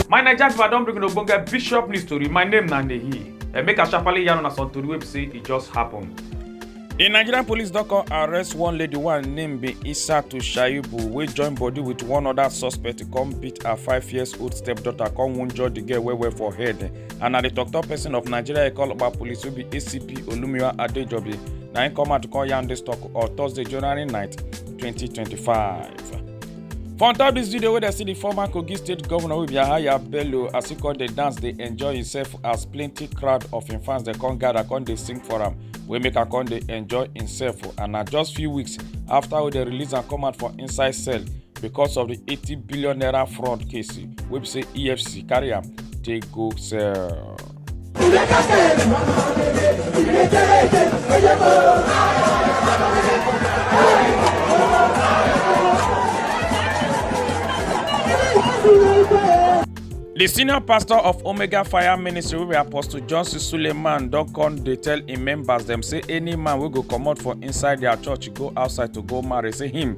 my naija pipo i don bring una ogbonge bishop news tori my name na nehi and make i sharparly yarn una some tori wey be say e just happen. di nigerian police don come arrest one lady wey her name be isatu shaibu wey join body with one oda suspect come beat her five years old stepdaughter come wunjure di girl well well for head and na di tok-tok pesin of nigeria ikoloba police wey be acp olumiwa adejobi na im come out to call yarn dis tok on thursday january 9 2025 for on top dis video wey dem see di former kogi state govnor wey be yahaya bello as e come dey dance dey enjoy himself as plenty crowd of im fans dey come gather come dey sing for am wey make am come dey enjoy himself and na just few weeks afta wey dem release am come out for inside cell because of di 80 billion naira fraud case wey be say efcc carry am take go sell. The senior pastor of Omega Fire Ministry, wey Apostle Johnson Suleiman, don come dey tell im members dem say any man wey go comot for inside their church go outside to go marry, say him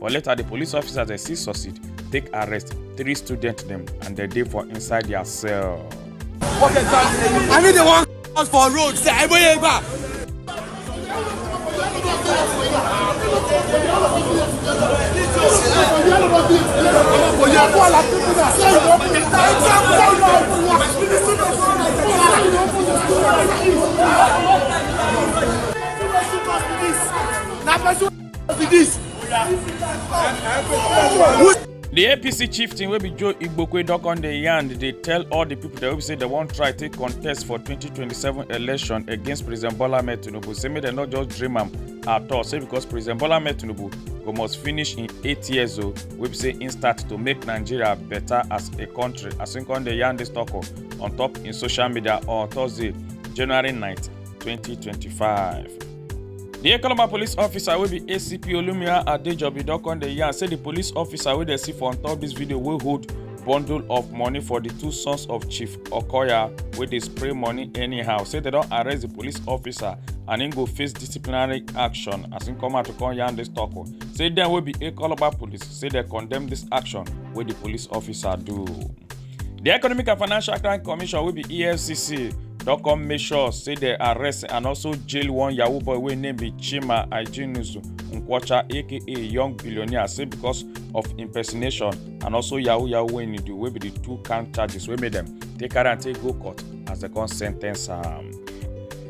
but later di police officers dey still succeed take arrest three students dem and dem dey for inside dia cell. I need the one out for road, say I bring back. Thank you. di apc chieftain wey be joe igbokwe don come dey yarn dey tell all di pipo dem wey be say dem wan try take contest for 2027 election against president bola ahmed tinubu say make dem no just dream am at all say because president bola ahmed tinubu go must finish im eight years o wey be say im start to make nigeria better as a country as im come dey yarn dis tok on top im social media on thursday january 9 2025. di ekoloma police officer wey be acp olumia adejobi don come dey yarn say di police officer wey dey see for on top dis video wey hold bundle of money for di two sons of chief okoya wey dey spray money anyhow say dem don arrest di police officer and im go face disciplinary action as im come out to come yarn dis tok say dem wey be ekoloma police say dem condemn dis action wey di police officer do. di economic and financial crime commission wey be efcc don come make sure say dem arrest and also jail one yahoo boy wey name be chima ajinusu nkwocha aka young billionaire say because of impersonation and also yahoo yahoo wey he do wey be di two count charges wey make dem take carry am take go court as dem come sen ten ce am.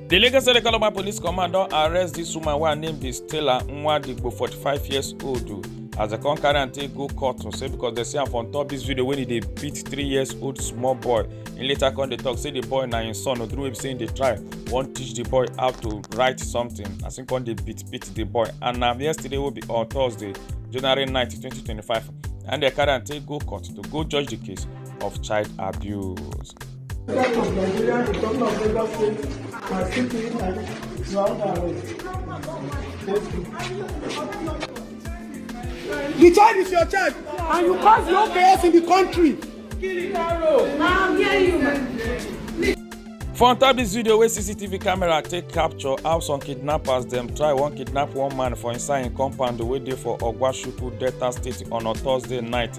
di lagos state economic police command don arrest dis woman wey her name be stella nwadigbo 45 years old o as dem come carry am take go court o say because dem see am for on top dis video wey e dey beat three years old small boy im later come dey talk say di boy na im son o through wey be say im dey try wan teach di boy how to write something as im come dey beat beat di boy and na yesterday wey be on thursday january 9 2025 and dem carry am take go court to go judge di case of child abuse. The child is your child, and you cause no chaos in the country. For on top dis video wey CCTV camera take capture how some kidnappers dem try wan kidnap one man for inside im compound wey dey for Ogwashuku, Delta State on a Thursday night.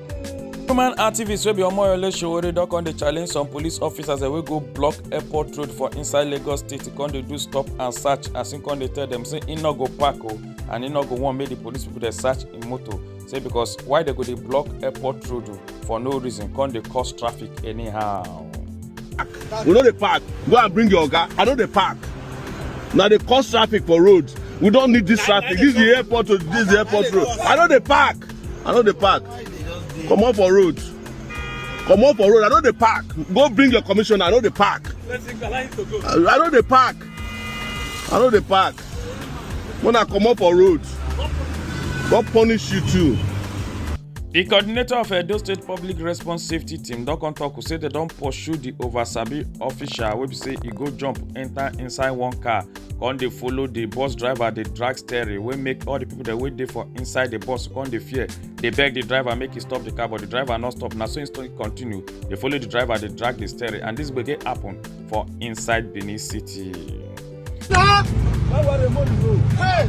human activists wey be omoyole sowore don come dey challenge some police officers wey go block airport road for inside lagos state to come dey do stop and search as im come dey tell dem say im no go park o and im no go wan make di police pipo dey search im motor say because why dem go dey block airport road for no reason come dey cause traffic anyhow. we no dey park go and bring your oga i no dey park na dey cause traffic for road we don need dis traffic dis is di airport road dis is di airport road i no dey park. i no dey park comot for road comot for road i no dey park go bring your commissioner i no dey park i no dey park i no dey park when i comot for road god punish you too. di coordinator of edo state public response safety team don come tok say dem don pursue di over-sabi official wey be say e go jump enta inside one car come dey follow the bus driver dey drag steering wey make all the people dem wey dey for inside the bus come dey fear dey beg the driver make he stop the car but the driver no stop na so he still continue dey follow the driver dey drag the steering and this gbege happen for inside benin city. Stop! Why were the money go? Hey!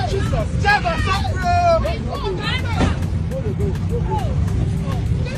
Jesus! Driver, stop, bro! Money go, go, go.